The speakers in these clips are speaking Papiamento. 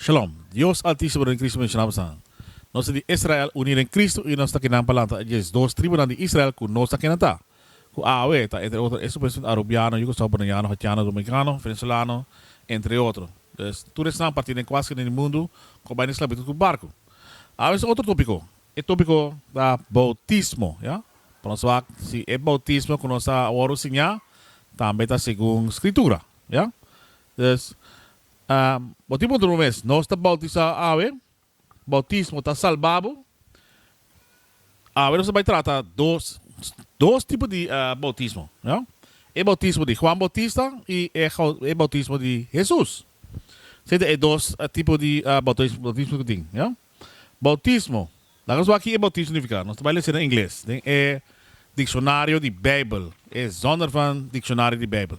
Shalom. Dios Altísimo den Cristo Mesías Nan San. Nos ta di Israel uní den Cristo i nos ta kinan palanta e dies dos tribunan di Israel ku nos ta kinan ta, ku awe ta entre otro esun presidente arubiano, yugoslavo, boniano, haitiano, dominikano, venezolano, entre otro. Des, tur esnan partí den kuaske den e mundu ku bai na esklabitut ku barku. Awe nos ta otro tópiko. E tópiko ta boutismo, ya. Pa nos wak si e boutismo ku nos ta awor siñá tambe ta segun Skritura, ya. Dus, bo tin puntra bo mes, Nos ta boutisá awe? Boutismo ta salba bo? Awe nos ta bai trata dos dos tipo di boutismo. E boutismo di Juan Boutista i e boutismo di Hesus. Esei ta e dos tipo di boutismo ku tin. Boutismo, laga nos wak ki e boutismo signifiká. Nos ta bai lesa na ingles den e Diccionario di Bijbel, e Zondervan Diccionario di Bijbel.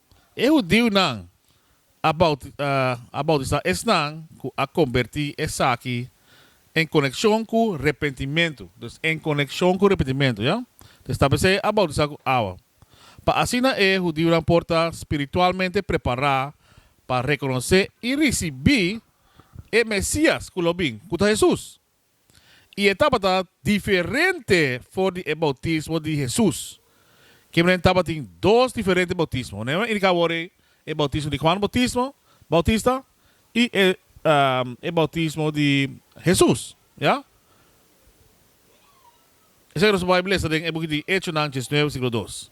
E hudiunan a bautisá esnan ku a kombertí esaki en konekshon ku repentimentu. Dus en konekshon ku repentimentu, ya. Te stablisé a bautisá ku awa, pa asina e hudiunan por ta spiritualmente prepará pa rekonosé i risibí e Mesias ku lo bin, ku ta Hesus. i e tabata diferente for di e boutismo di Hesus. Kimen'en tabatin dos diferente boutismo. Nan a indiká awor ei, e boutismo di Huan Boutismo, Bautista, i e e boutismo di Hesus. Ya? Esei nos por bai blesa den e buki di Hechonan, Diecinueve, siglo dos.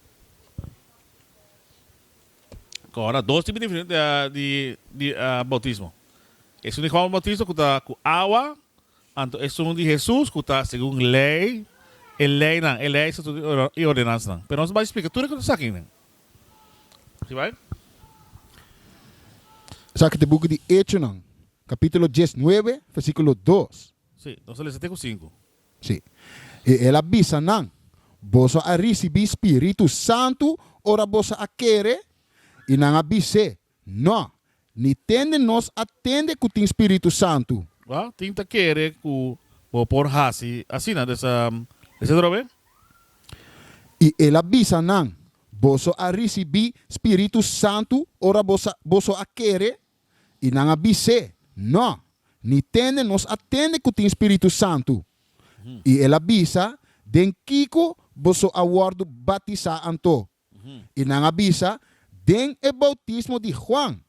Kora, dos tipo diferente di bautismo. Esun di Juan Bautista ku ta ku awa, anto esun di Hesus ku ta segun lei, e leinan, e lei, estatutonan i ordenansanan. Pero nos bai splika tur e kos akinan. Si bai? Esaki ta e buki di Echonan, kapitulo dies nuebe, versikulo dos. Si, nos ta lesa te ku sinku. Sí. I el a bisa nan, Boso a risibí Spiritu Santu ora boso a kere? I nan a bis'é, Nò, ni ten den nos a tende ku tin Spiritu Santu. Wou, tin ta kere ku bo por hasi asina des a hesed ora be? I el a bisa nan, Boso a risibí Spiritu Santu ora boso a kere? I nan a bis'é, Nò, ni tende nos a tende ku tin Spiritu Santu. I el a bisa, Den kiko boso a wòrdu batisá anto? I nan a bisa, Den e boutismo di Juan.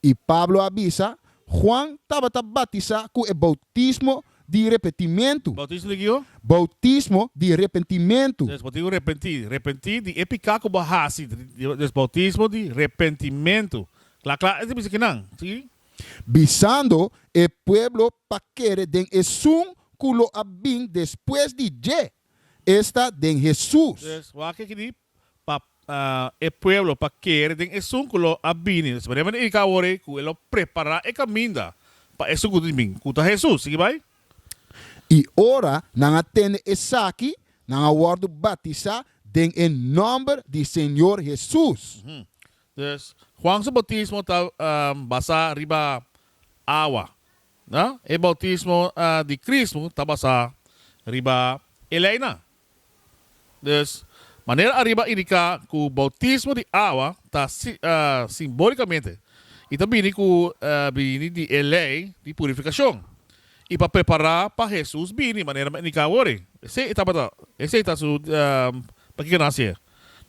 I Pablo a bisa, Juan tabata batisá ku e boutismo di repentimentu. Boutismo di kiko? Boutismo di repentimentu. Des bo tin ku repentí. Repentí di e piká ku bo a hasi. Des boutismo di repentimentu. Kla kla e ta bisa kinan, si. Bisando e pueblo pa kere den esun ku lo a bin despues di dje, esta den Hesus. Yes, wak aki di pa e pueblo pa kere den esun ku lo a bini. Esaki manera ta indika awor ei ku e lo prepará e kaminda pa esun ku tin bin, ku ta Hesus. Sigui bai. I ora nan a tende esaki, nan a wòrdu batisá den e nòmber di Señor Hesus. Dus, Juan su boutismo ta basá riba awa. E boutismo di Kristu ta basá riba e leinan. Dus, manera ariba indiká ku boutismo di awa ta simbólikamente i ta bini ku bini di e lei di purifikashon i pa prepará pa Hesus bini, manera nan indiká awor ei. Esei tabata esei ta su pakiko nan hasié.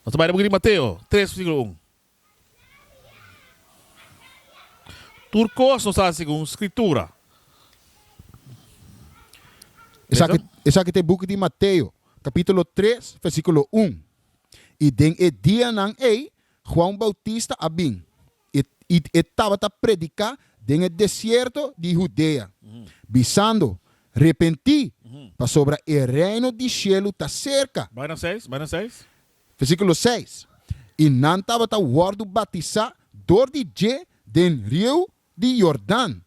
Nos ta bai na buki di Mateo tres versíkulo un. Tur kos nos ta hasi segun Skritura. Esaki, esaki ta e buki di Mateo, kapítulo tres, versíkulo un. I den e dianan ei Juan Bautista a bin. i e tabata prediká den e desierto di Hudea, bisando, Repentí, pasobra e reino di shelu ta serka. Versíkulo seis, I nan tabata wòrdu batisá dor di dje den riu di Yordan,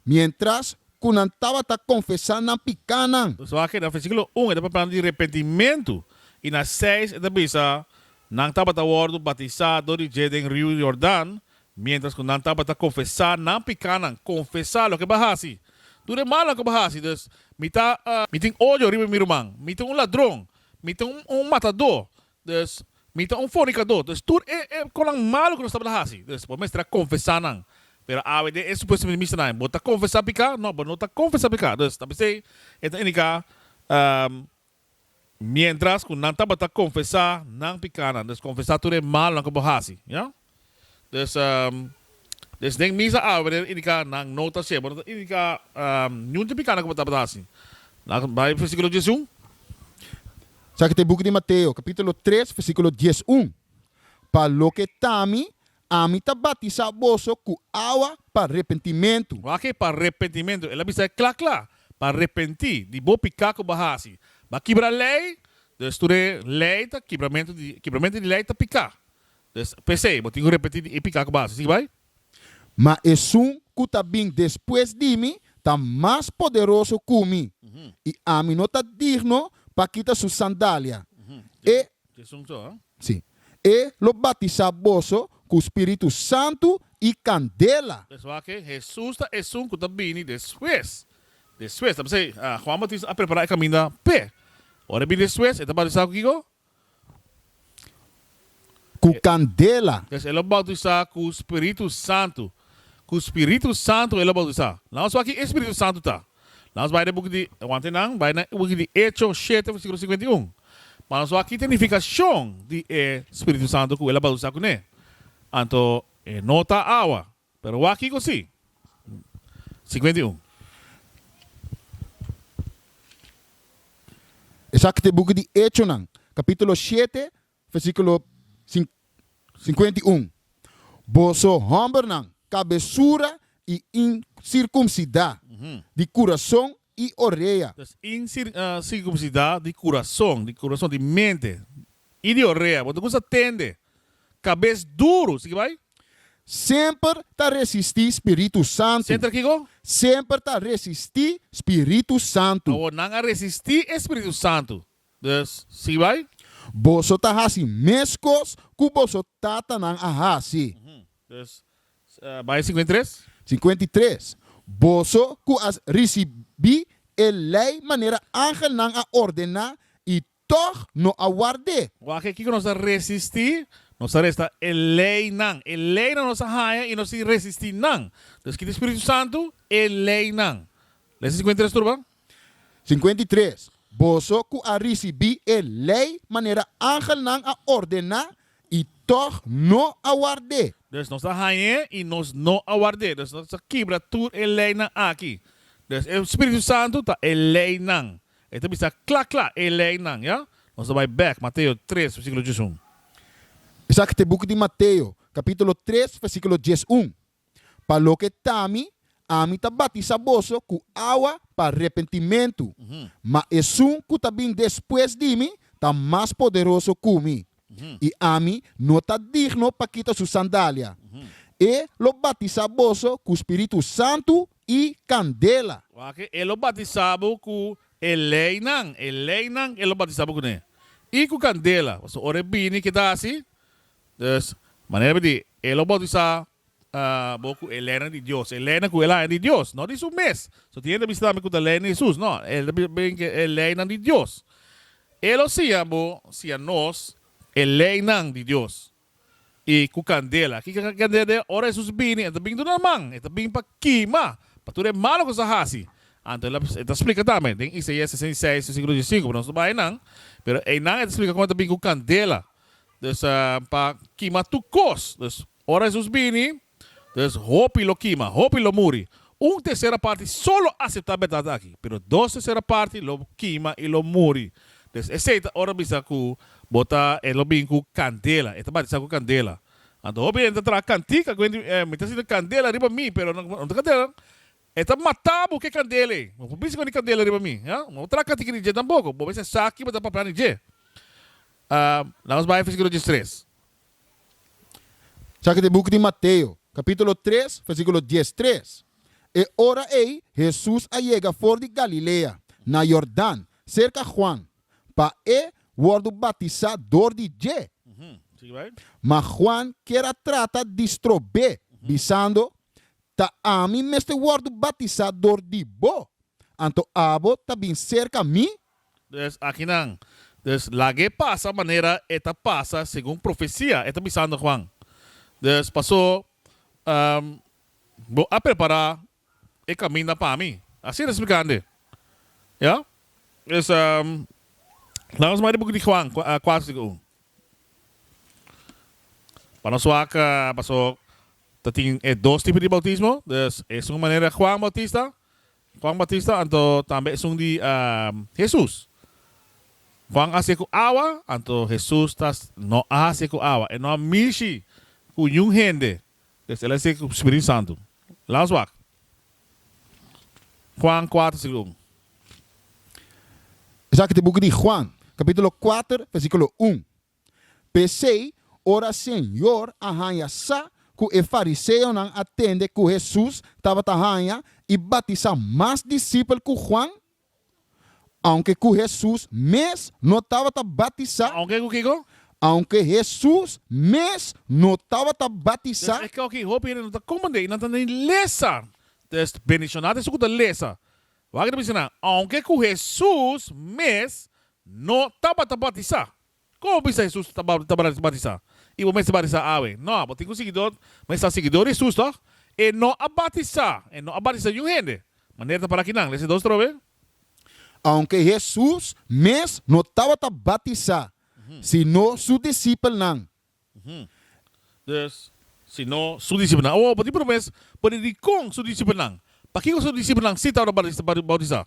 miéntras ku nan tabata konfesá nan pikánan. So aki na versíkulo un e ta papia nan di repentimentu, i na seis e ta bisa nan tabata wòrdu batisá dor di dje den riu Yordan miéntras ku nan tabata konfesá nan pikánan. Konfesá loke bo a hasi. Tur e malnan ku bo hasi. Dus, mi ta. Mi tin odio riba mi ruman. Mi ta un ladron. Mi ta un matadó. Dus, mi ta un fornikadó. Dus, tur e, e konan malu ku nos tabata hasi, dus, bo mester a konfesá nan. Pero awe den e supuesto Ministerio nan, bo ta konfesá piká? No, bo no ta konfesá piká. Dus, ta bisei e ta indiká, miéntras ku nan tabata konfesá nan pikánan, dus konfesá tur e malunan ku bo hasi. Yah? Des den mis a abri a indica nan no ta ciego, no ta indica niun tin picado cu bo tabata haci. Laga bai versiculo dies i un. Sa ki'e ta e buki di Mateo, capitulo tres, versiculo dies i un, Pa loke ta mi, ami ta batisa boso cu awa pa repentimentu. Wak ki'e pa repentimentu. El a bisa e cla cla, pa repenti di bo pica cu bo haci. Bo a kibra ley, dus tur e ley ta kibramento di, kibramento di ley ta pica. P'esei, bo tin ku repetí di e piká ku basa. Sigui bai. Ma esun ku ta bin despues di mi ta mas poderoso ku mi, i ami no ta digno pa kita su sandalia. E, sí, e lo batisá boso ku spiritu santu i kandela. P'esei wak, Hesus ta esun ku ta bini despues. Despues, ta p'esei Juan Bautista a prepará e kaminda p'e. Ora e bin despues, e ta batisá ku kiko? ku kandela. Pues e lo boutisá ku Spiritu Santu. Ku Spiritu Santu e lo boutisá. Laat ons wak ki e Spiritu Santu ta. Laat ons bai den buki di, aguanta nan, bai na buki di Hecho shete versikulo singwenta i un, pa nos wak kite nifikashon di e Spiritu Santu ku e lo boutisá kuné. Anto e no ta awa. Pero wak kiko si? Sikuenta i un. Esaki ta e buki di Echonan, kapítulo shete, versíkulo sikuenta i un, Boso hòmbernan kabesura i insirkumsidá di kurason i orea. Ta sin circumcida di curazon, di curazon, di mente i di orea. Bo ta cusa tende cabes duru. Sigui bai. Semper ta resisti Spiritu Santu. Semper kico? Semper ta resisti Spiritu Santu. Awor nan a resisti e Spiritu Santu. Dus, sigui bai. Boso ta haci mescos cu boso tatanan a haci. Dus, bai singkuenta i tres. Singkuenta i tres, Boso ku a risibí e lei manera angelnan a ordená i tòg no a ward'é. Wak kiko nos a resistí, nos a resta e leinan. E leinan nos a haña i nos tin resistí nan. Dus kita e spiritu santu? E leinan. Lesa singkuenta i tres tur, bo. Singkuenta i tres, Boso ku a risibí e lei manera angelnan a ordená I tòg no a ward'é. Dus nos a hañ'é i nos no a ward'é. Dus nos a kibra tur e leinan aki. Dus e Spiritu Santu ta e leinan. E ta bisa kla kla, e leinan. Ya? Nos ta bai bèk, Mateo tres, versíkulo diesun. Esaki ta e buki di Mateo, kapítulo tres, versíkulo diesun. Pa loke ta mi, ami ta batisá boso ku awa pa repentimentu, ma esun ku ta bin despues di mi ta mas poderoso ku mi, i ami no ta digno pa kita su sandalia. E lo batisá boso ku Spiritu Santu i kandela. Wak, e lo batisá bo ku e leinan, e leinan e lo batisá bo kuné, i ku kandela. Pasobra ora e bini keda hasi, Dus, manera di e lo boutisá bo ku e lèna di Dios, e lèna ku el haña di Dios, no di su mes. So tin hende a bisa tambe ku ta lèna di Hesus. No, e ta bisa tambe ku e lèinan di Dios. E lo siña bo, siña nos, e lèinan di Dios. I ku kandela. Kiko ta kandela den? Ora Hesus a bini, el ta bini duna man. El ta bini pa kima, pa tur e malu ku nos a hasi. Anto e ta splika tambe den Isaias sesenta i seis, versíkulo dies i sinku, pero nos no bai nan. Pero einan e ta splika kon el ta bini ku kandela. Dus pa kima tur kos. Dus ora Hesus bini, dus hopi lo kima, hopi lo muri. Un tersera parti solo aseptá bèrdat aki, pero dos tersera parti lo kima i lo muri. Dus esei ta ora bisa ku bo ta, e lo bin ku kandela, e ta batisá ku kandela. Anto hopi hende ta traha kantika, ku hende mi ta sinti kandela riba mi, pero no ta kandela. E ta mata bo cu e candela ey. No por bisa cu e candela riba mi, ha? No traha catica di dje tampoco. Bo mester a sa kiba ta papia di dje. Ahm, lamas bay versiculo diestres. Sa kit e boek di Mateo, capitulo tres, versiculo diestres. E ora ey Jesús a yega for di Galilea, na Jordán, cerca Juan, pa E wordo batisa door di dje. Uhm, sigui bay. Ma Juan kier a trata di strobe, bisando, Ta ami mester wòrdu batisá dor di bo, anto abo ta bin serka mi? Pues, akinan. Dus, lag'é pasa manera e ta pasa segun profesia, e ta bisando Juan. Dus, pasó, bo a prepará e kaminda pa mi. Asina e ta splikand'é. Ya? Dus, laga nos bai di buki di Juan kuater tika un. Pa nos wak, pasó, Ta tin e dos tipo di bautismo, dus esun manera Juan Bautista, Juan Batista, anto tambe esun di Hesus. Juan a hacié cu awa, anto Hesus ta no a hacié cu awa, e no a mishi cu niun hende, dus el a hacié cu Spiritu Santu. Laus wak Juan kuater sigu un. Esaki ta e buki di Juan, capitulo kuater, versiculo un. P'esei, ora Señor a haña sa ku e fariseonan a tende ku Hesus tabata haña i batisá mas disipel ku Juan, aunke ku Hesus mes no tabata batisá. Aunke ku kiko? Aunke Hesus mes no tabata batisá. Des eskel ki hopi hende no ta komprendé i nan ta ni lesa. Des bendishoná ta esun ku ta lesa. Wak e ta bisa nan, aunke ku Hesus mes no tabata batisá. Kon bo bisa Hesus ta batisá i bo mester batisá awe? Nò, bo tin ku siguidó, bo mester a siguidó di Hesus tòg? E no a batisá, e no a batisá niun hende. Manera ta para akinan, lesa dos trobe. Aunke Hesus mes no tabata batisá, sino su disipelnan Dus, si no, su disipelnan. Awo, bo tin por mes por di dikon su disipelnan. Pakiko su disipelnan sí tabata bautisá?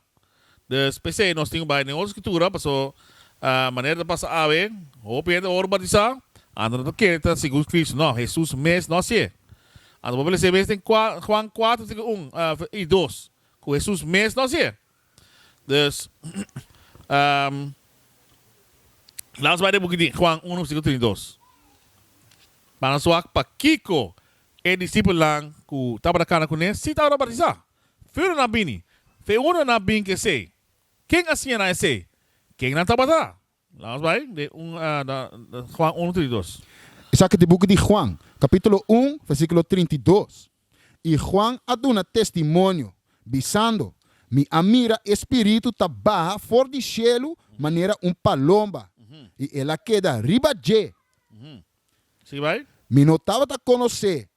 Dus, p'esei nos tin ku bai den otro Skritura, paso manera ta pasa awe, hopi hende ora bautisá, anto no ta kere ta segun Kristu. No, Hesus mes no hasié. Anto bo por lesa e mes den Juan kuater tika un i dos, ku Hesus mes no hasié. Dus, lans bai den bukitin, Juan uno, versikulo trinta i dos. Bana su ak pakiko e disipelnan ku tabata kana ku ne si tabata bautisá. Feuno nan bini, feuno nan bin ku esei. Ken a siña nan esei? Ken nan tabata? Lamos bai den un Juan uno trinta i dos. Esaki ta e buki di Juan, kapítulo un, versíkulo trinta i dos. I Juan a duna testimonio, bisando, Mi a mira e Spiritu ta baha for di shelu manera un palomba, i el a keda riba dje. Sigui bai. Mi no tabata konos'é,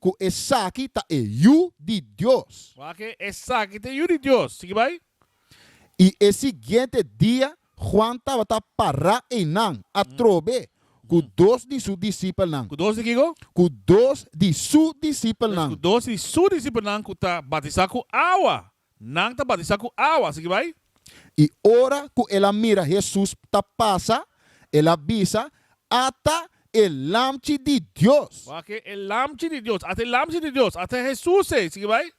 Ku esaki ta e Yu di Dios. Waak'é, esaki ta e Yu di Dios. Sigui bai. I e siguiente dia Juan tabata pará einan, atrobe ku dos di su disipelnan. Ku dos di kiko? Ku dos di su disipelnan. Ku dos di su disipelnan ku ta batisá ku awa. Nan ta batisá ku awa. Sigui bai. I ora ku el a mira Hesus ta pasa, el a bisa, Ata e Lamchi di Dios! Wak, e Lamchi di Dios! Ata e Lamchi di Dios! Ata Hesus ei! Sigui bai.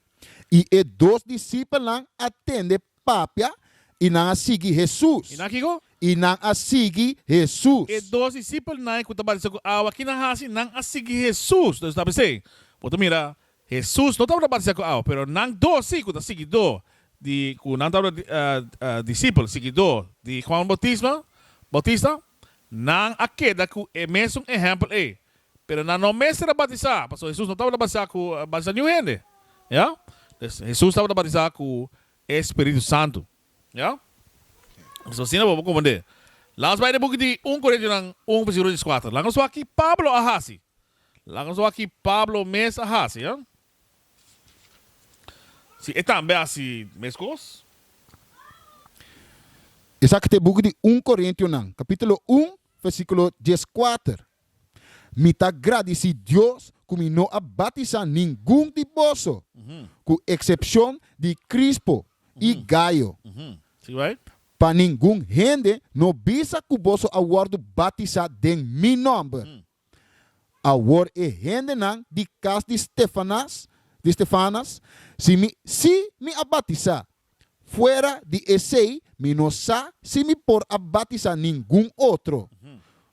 I e dos disipelnan a tende papia, i nan a sigui Hesus. I nan a kiko? I nan a sigui Hesus. E dos disipelnan ku ta batisá ku awa, kinan hasi? Nan a sigui Hesus. Esaki ta bisa ei. Bo ta mira, Hesus no tabata batisá ku awa, pero nan dosi ku ta siguidó di, ku nan tabata disipel, siguidó, di Juan Boutisma, Boutista, nan a keda ku e mesun ehèmpel ei. Pero nan no mester a batisá, pasobra Hesus no tabata batisá ku batisá niun hende. Ya? Pues, Hesus tabata batisá ku e spiritu santu. Ya? Pues, asina bo por komprendé. Lans bai den buki di un Korintiunan un, versikulo dieskuater. Laga nos wak ki Pablo a hasi. Laga so aki Pablo mes a hasi, a? Si e tambe hasi meskos? Esaki ta e buki di Un Korintionan, kapitulo un, versíkulo dieskuater, Mi ta gradisí Dios ku mi no a batisá ningun di boso, ku eksepshon di Krispo i Gayo. Pa ningun hende no bisa ku boso a wòrdu batisá den mi nòmber. Awor e hendenan di kas di Stefanas, di Stefanas, si mi, si mi a batisá, fuera di esei mi no sa si mi por a batisá ningun otro,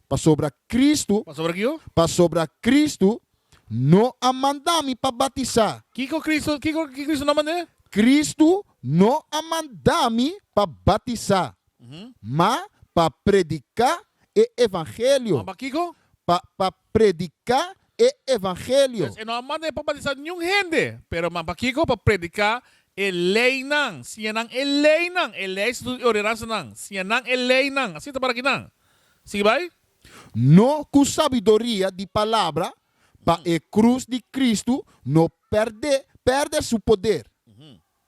pasobra Kristu, Pasobra kiko? pasobra Kristu no a manda mi pa batisá. Kiko Kristu, kiko ki Kristu no a mand'é? Kristu no a manda mi pa batisá, ma pa prediká e evangelio. Pa prediká e evangelio. Pues e no a manda e pa batisá niun hende, pero mas pa kiko? Pa prediká e leinan, siña nan e leinan, e lei estatuto i ordenansanan, siña nan e leinan. Asina ta para kinan. Sigui bai. No ku sabiduria di palabra, pa e krus di Kristu no pèrdè su poder.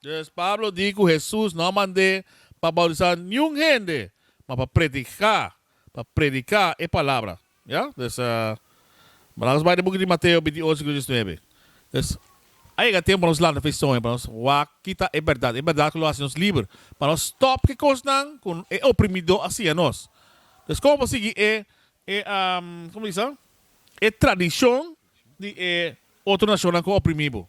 Djis Pablo di ku Hesus no a mand'é pa boutisá niun hende, ma pa prediká, pa prediká e palabra. Ya? Djis, Mira nos bai den buki di Mateo bintiuch sigundo diesnuebe. Djis, a yega tempu pa nos lanta feison i pa nos wak kita e bèrdat, e bèrdat ku lo hasi nos liber, pa nos stòp ki kosnan ku e oprimidó a siña nos. Djis, komo pa sigui e, e, komo di sa? e tradishon di e otro nashonnan ku a oprimí bo?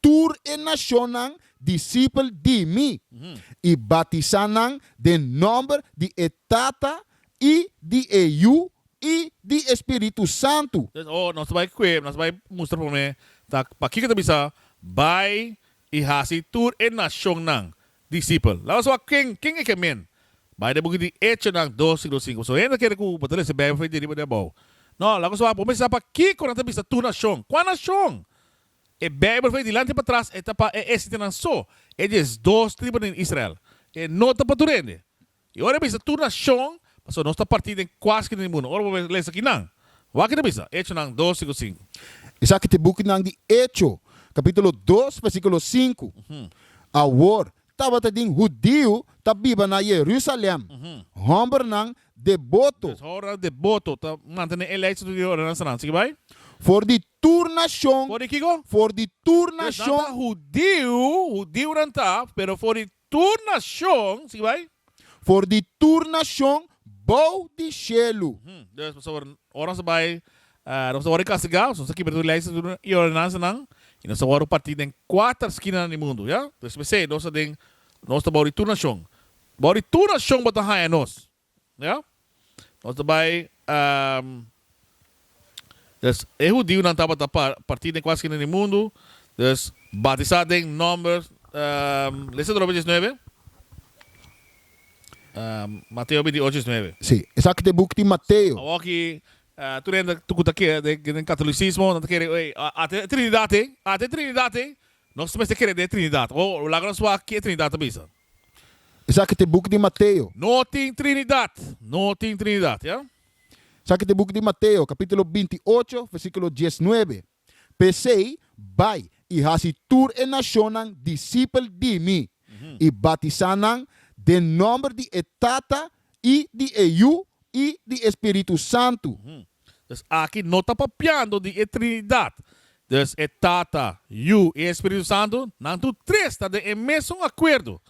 tur e nashonnan disipel di mi, i batisá nan den nòmber di e Tata, i di e Yu, i di e Spiritu Santu. Entonces, oh, nos ta bai kue, nos ta bai mustra promé, ta pakiko ta bisa, Bai i hasi tur e nashonnan disipel. Laga nos wak ken, ken e ke men. Bai den buki di Echonan dos, siglo sinku. Pasobra hende ta kere ku bo ta lesa e Beibel for e di riba, di abou. No, laga nos wak, bo mester sa pakiko nan ta bisa tur nashon. Kua nashon? E Beibel fei dilanti i patras e ta pa e esitenan so, e diesdos tribu den Israel. E no ta pa tur hende. I ora e bisa tur nashon, pasobra nos ta partí den kua skina di mundu. Ora bo lesa kinan, wak i ta bisa, Echonan dos, sinku sinku. Esaki ta e bukinan di Echo, kapítulo dos, versíkulo sinku. Awor, tabata di un hudiu ta biba na Yerusalèm, hòmbernan deboto. Des hòmbernan deboto ta mantené e lei di Dios ora nan sran. Sigui bai. For di tur nashon, For di kico? for di tur Pues nan nashon. ta hudiu, hudiunan ta, pero for di tur nashon, sigui bai. For di tur nashon bou di shelu. Uhm, dus pasobra ora nos ta bai, nos ta wòrdu kastigá, nos ta kibra tur lei i ordenansanan, i nos ta wòrdu partí den kuater skinanan di mundu, ya. Dus p'esei nos ta den, nos ta bou di tur nashon. Bou di tur nashon bo ta haña nos. Ya. Nos ta bai, ehm, dus e hudiunan tabata pa partí den kua skina di mundu, dus batisá den nòmber, ehm, lesa tur hopi diesnuebe, ehm, Mateo bintiuocho diesnuebe. Sí, esaki ta e buk di Mateo. Awor aki, eh, tur hende ku ta ke, den, den katolisismo nan ta kere, ey, a, ata e Trinidad te, ata e Trinidad te, nos mester kere den e Trinidad. Ho, laga nos wak ke e Trinidad ta bisa. Esaki ta e book di Mateo. No tin Trinidad, no tin Trinidad, ya. Esaki ta e book di Mateo, capítulo binti i ocho, versículo dies i nuebe. P'esei, bai i haci tur e nacionnan disipel di mi, i batisá nan den nomber di e Tata, i di e Yu i di e Spiritu Santu. Dus aki no ta papiando di e Trinidad. Dus e Tata, Yu i e Spiritu Santu, nan tur tres ta den e mesun akuerdo.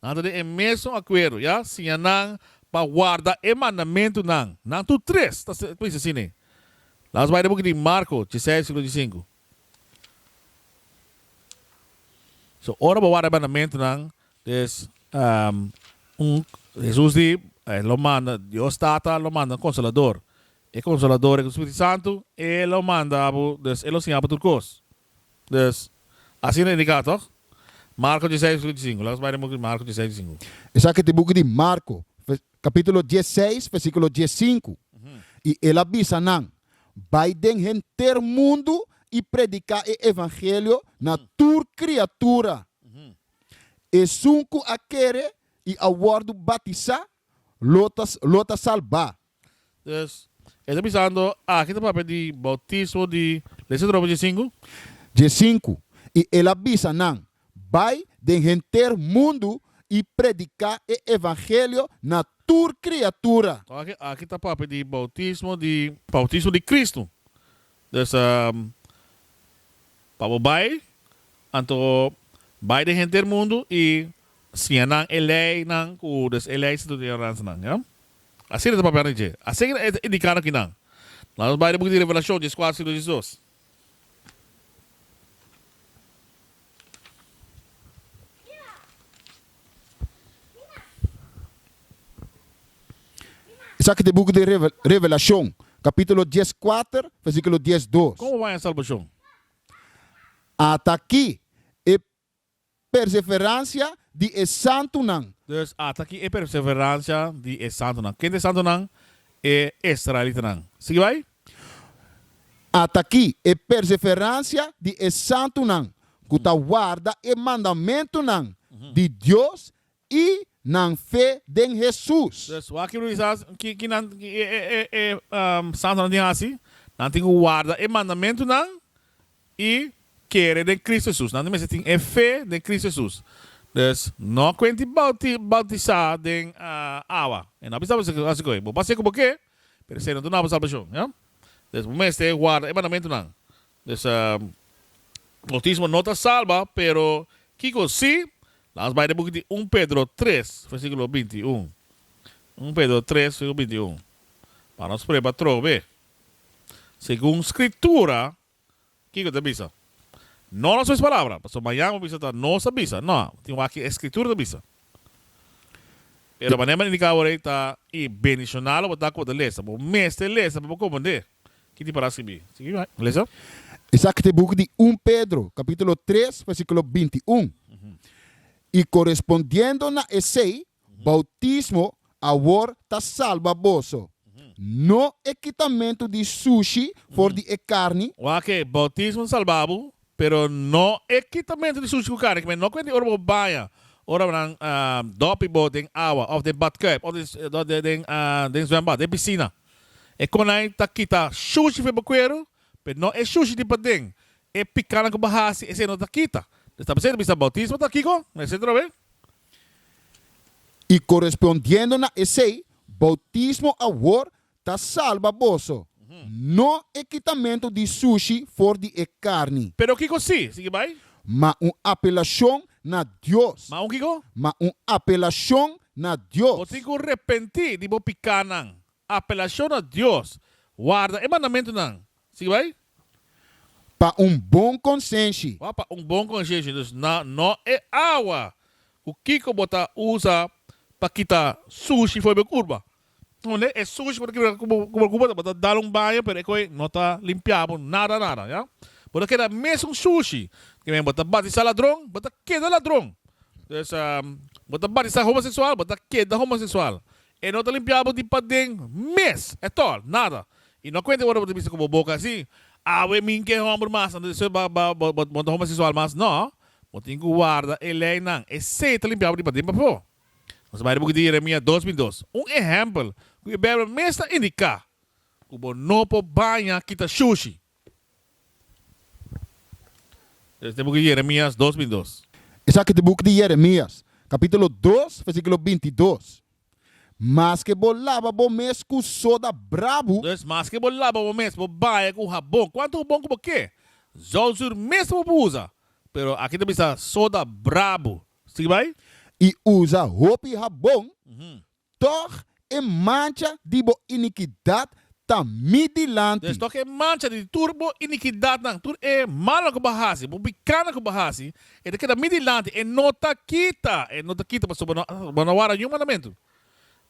Nan ta den e mesun akuerdo, ya. Siña nan pa warda e mandamentunan. Nan tur tres ta skri, ta dici asina. La'ns bai den buki di Marco, djisei, versículo djisinku. So ora bo ward'e mandamentunan, des un, Jesus di, E lo manda, Dios Tata lo manda un Konsolador. E Konsolador, e ku Spiritu Santu, e lo manda bo, des e lo siña bo tur kos. Des, asina ta indiká, tòg? Marko diseis, vèrsò di sinku. Lata nos bai den buki di Marko diseis, di sinku. Esaki ta e buki di Marko, Capítulo diesseis, versículo diescinku, I el a bisa nan, Bai den henter mundu i predicá e evangelio na tur criatura. Esun cu a kere i a wordu batisá, lo ta salbá. Dus, e ta bisando, Aki ta papia di bautismo di, lesa de nobo diescinku. Diescinku, I el a bisa nan, Bai den henter mundu i prediká e evangelio na tur kriatura. Oke, aki ta papia di boutismo di. Boutismo di Kristu. Dus, pa bo bai, anto bai den henter mundu i siña nan e leinan ku des e lei sintu di ordenansanan. Ya? Asina ta papiando dje. Asina e ta indikándo ku i nan. Lanos bai den buki di Revelashon, djeskuater, sino djesdos. Esaki ta e buki di Revelashon, kapitulo dies kuater, versikulo dies dos. Komo wak e salbashon? Ataki e perseverancia di e santunan. Dus ata ki e perseverancia di e santunan. Kende e santunan? E israelitanan. Sigui bai. Ata ki e perseverancia di e santunan ku ta warda e mandamentunan di Dios I nan fe den Hesus. Pues, wak i Luisas, ki ki nan ki e e e e santonan tin hasi? Nan tin ku warda e mandamentunan i kere den Kristu Hesus. Nan tin mester tin e fe den Kristu Hesus. Pues, no kuenti bouti boutisá den awa. E no a bisa bo esei, hasi koe. Bo por a seku bo ke, pero esei no ta duna bo salbashon. Pues, bo mester warda e mandamentunan. Dessa bautismo no ta salba, pero kico si? Lans bai den buki di un Pedro tres, versiculo binti i un. Un Pedro tres, versiculo binti i un. M'a nos preba troc be. Segun Scritura, kico ta bisa? No nos mes palabra, pasobra mañan bo bisa ta nos a bisa. No, bo tin wak ki e Scritura ta bisa. Pero manera bo indica awor ei ta i bendicional lo bo ta cu bo ta lesa. Bo mester lesa pa bo comprende. Kiti para scribi? Sigui bay, lesa. Esaki ta e buki di un Pedro, capitulo tres, versiculo binti i un, I corespondiendo na esei, bautismo awor ta salba boso, no e kitamentu di sushi for di e carni, Wak-e, bautismo ta salba bo, pero no e kitamentu di sushi ku carni, kibè no kuenti ora bo baña, ora nan dopi bo den awa, of den badkuip, of den zwembad, den pisina. E konai ta kita shushi feba kueru, pe no e shushi di paden. E pikanan ku bo hasi, esei no ta kita. Des ta presente bisa boutismo ta kiko? Mester trobe. I korespondiendo na esei, boutismo awor ta salba boso, no e kitamentu di shushi for di e karni. Pero kiko si? Sigui bai. Ma un apelacion na Dios. Ma un kico? Ma un apelacion na Dios. Bo tin cu repenti di bo picanan. Apelacion na Dios. Warda e mandamentonan. Sigui bay. Pa un bon conscienshi. Wak pa un bon conscienshi. Dus na no e awa cu kico bo ta usa pa kita sushi for e bo curba. Hunde e sushi por kibra ku bo kuba bo ta dal un baño pero e koe no ta limpiá bo nada nada ya bo ta keda mesun sushi ke men bo ta bati sa ladron bo ta keda ladron pues bo ta bati sa homoseksual bo ta keda homoseksual e no ta limpiá bo di paden mes at all nada i no kuente ora bo ta bisa ku bo boka así awe mi ke hòmber mas anto despues bo bo bo bo ta homoseksual mas nò bo tin ku warda e lei nan esei ta limpiá bo di paden pafó. Nos ta bai di buki di Jeremia dos bin dos, un ehèmpel ku e Beibel mes ta indiká ku bo no por baña kita shushi. Esaki ta buki di Jeremias dos bin dos. Esaki ta buki di Jeremias, kapítulo dos, versíkulo binti dos, Maske bo laba bo mes ku soda brabu, Entonces, maske bo laba bo mes, bo baña ku habon, kuantu habon ku bo ke, zòlzur mes ta bo por usa, pero akí ta bisa soda brabu. Scribai. I usa hopi habon, tog e mancha di bo inikidat ta mi dilanti. Des tog e mancha di tur bo inikidatnan, tur e malnan ku bo hasi, bo bikanan ku bo hasi, e ta keda mi dilanti, e no ta kita, e no ta kita, pasobra bo no a wara niun mandamentu.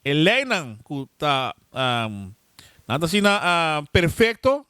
E leinan ku ta, nan ta asina perfekto,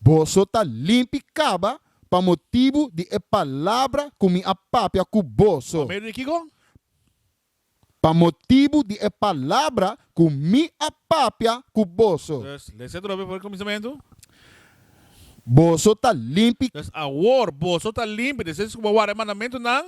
Boso ta limpi caba pa motibu di e palabra cu mi a papia cu boso. Pa medio di kico? Pa motibu di e palabra cu mi a papia cu boso. Dus, lesa e drobe for e cuminsamentu. Boso ta limpi. Dus awor, boso ta limpi. Despues cu bo a warda e mandamentunan.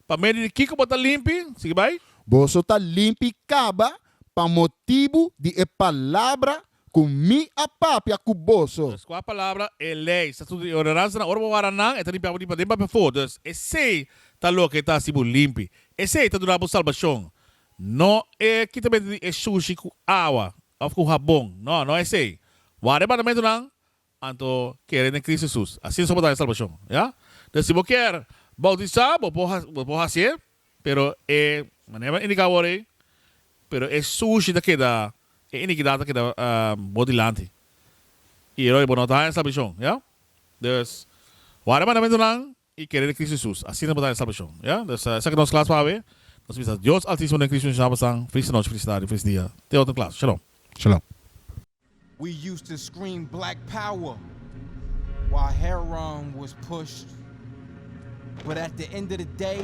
Pa medio di kiko bo ta limpi? Sigui bai. Boso ta limpi kaba pa motibu di e palabra ku mi a papia ku boso. Dus kua palabra? E lei, statuto i ordenansanan. Ora bo wara nan, e ta limpiabu di paden pa befo. Dus, esei ta loke ta hasi bo limpi. Esei ta duna bo salbashon. No e kitamento di e sushi ku awa òf ku habon. No, no esei. Wara e mandamentunan. Anto kere n'e Kris Hesus, asina so bo ta e salbashon. Ya? Dor si bo kier boutisá, bo por bo por hasié, pero e manera bo a indiká awor ei, pero e sushi ta keda, e inikidat ta keda bo dilanti. I e ròi bo no ta haña e salbashon. Ya? Dus, wak de mandamentunan i kere di Cristo Jesus. Asina bo ta haya salbacion. Ya? Des esaki nos clas pa awe. Nos bisa Dios Altisimo den Cristo Yahshua Basan. Feliz nochi, feliz tardi, feliz dia. Te otro clas. Shalom. Shalom. We used to scream black power while Heron was pushed but at the end of the day